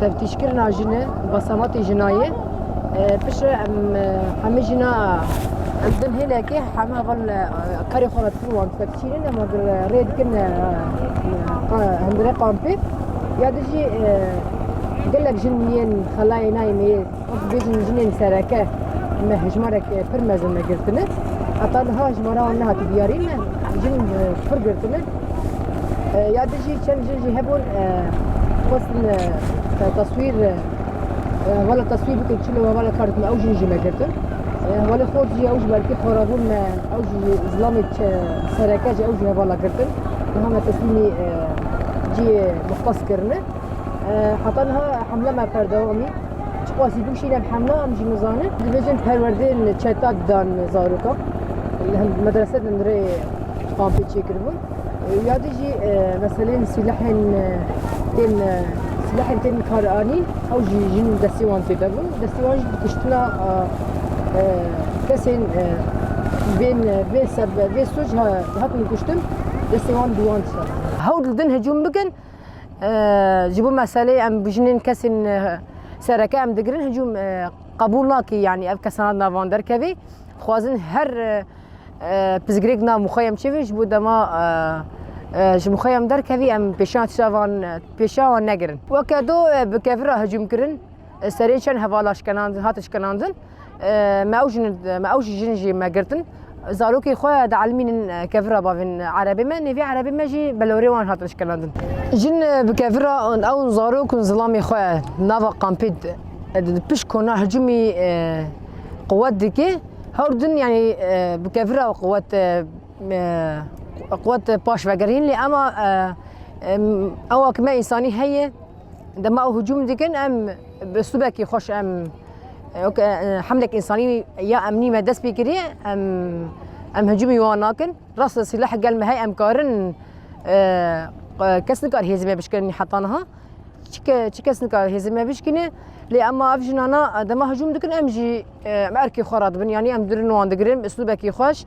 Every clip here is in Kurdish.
Teftîşkirina jin e û basamatê jina ye. Piştre em hemê jina em din hêlekê heme heval karê xwe re dikin wan dipepçînin em wan rê dikin hindire kampê ya dijî gelek jin yên xelayê nayê mêyê Ez dibêjim jinên sereke me hejmarek pir mezin me girtine. Heta niha hejmara wan nehatiye diyarîn me jin pir girtine. Ya di jî çend jin jî hebûn xwestin taswîr wala taswîr bikin çi me wala kar dikin ew jin jî me girtin. Wala xwe jî ew ji berkî xwarabûn me ew jî zilamê sereke jî ew jî hevala girtin. Niha me teslîmî cihê mixtas kirine. Heta niha hemla me berdewam e. Çiqasî bikişînin hemla em jî nizanin. Dibêjin perwerdeyên çeta didan zarokan. Li hin medrese din rê kampê çêkiribûn. Ya dî jî meseleyên sîlehên tên sîlehên tên karanîn ew jî jin destê wan tê de bûn. Destê wan jî kiştina kesên bên vê seb vê sûc hatin kuştin destê wan dûwan ser. Hewl didin hicûm bikin. ji bo meselê em bi jinên kesên sereke em digirin hicûm qebûl nakê yanî ev kesan navan derkevê xwazin her pizgirêk nav mixwe em çêvê ji bo dema ji mixwe em derkevî em pêşan çavan pêşawan negirin weke do bi kevira hicûm kirin Serê çend hevala şkenandin hate şkenandin. Me ew jin me ew jî jin jî me girtin. Zarokê xwe dielmînin kevira bavên erebê me, nêvî erebê me jî belorê wan hatin şkenandin. Jin bi kevira ew zarok û zilamê xwe nava kampê pişt kona hicûmî quwet dike. Her din yanî bi kevira quwet quwet paş vegerîn lê ema ewa ki me însanî heye Dema ew hicûm dikin em bi stûbekî xweş em hemlek însanî ya emnî me dest pê kiriye em em hicûmî wan nakin. Rast li sîleh gel me hey em karin kes nikar hêzê me bişkirin heta niha. Çike çi kes nikar hêzê me bişkine lê ema ev jinana dema hicûm dikin em jî em erkê xwe re dibin yanî em durin wan digirin bi stûbekî xweş.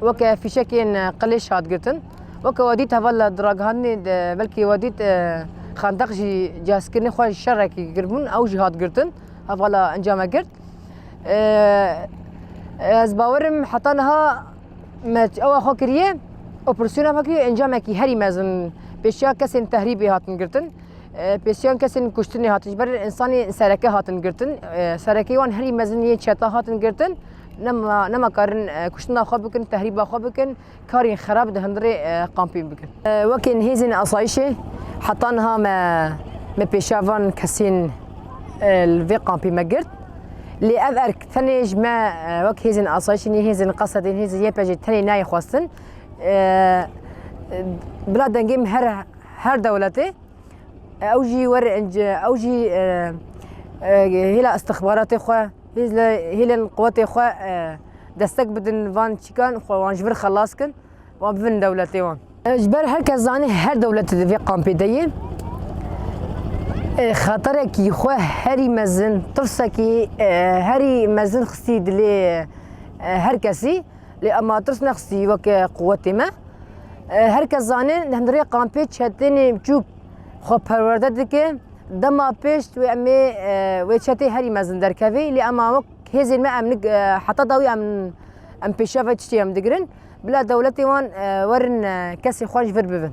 Weke fîşekên qilêş hat girtin. Weke we dît heval di ragihandinê de belkî we dît xendeq jî cihezkirinê xwe şerekî giribûn ew jî hat girtin. Hevala encame girt. Ez bawerim heta niha me ewa xwe kiriye operasyona vekî encamekî herî mezin pêşiya kesên tehrîbê hatin girtin. Pêşiyan kesên kuştinê hatin ji ber insanê sereke hatin girtin. Serekê wan herî mezin yên çeta hatin girtin. Namakarin kuştina xwe bikin, tehrîba xwe bikin, karên xerab di hundirê kampên bikin. Wekî hêzên asayîşê heta niha me me pêşiya van kesên li vê kampê me girt. Lê ev erk tenê ji me wek hêzên asayîşê nî hêzên qesedên hêzên YPJê tenê nayê xwestin. Bila dengê min her her dewletê ew jî were ew jî hêla istixbaratê xwe Hêz li hêlên quwetê xwe destek bidin van çîkan xwe wan ji vir xelas kin wan bibin dewletê wan. Ji ber her kes zanî her dewletê di vê kampê de yê xeterekî xwe herî mezin tirsekî herî mezin xistî dilê her kesî lê em a tirs nexistî weke quwetê me. Her kes zanî li hundirê kampê çetên biçûk xwe perwerde dike. Dema pêşt wê em ê wê çetê herî mezin derkevê lê em wek hêzên me em heta dawî em em pêşiya vê çitê em digirin bila dewletê wan werin kesê xwe ji vir bibin.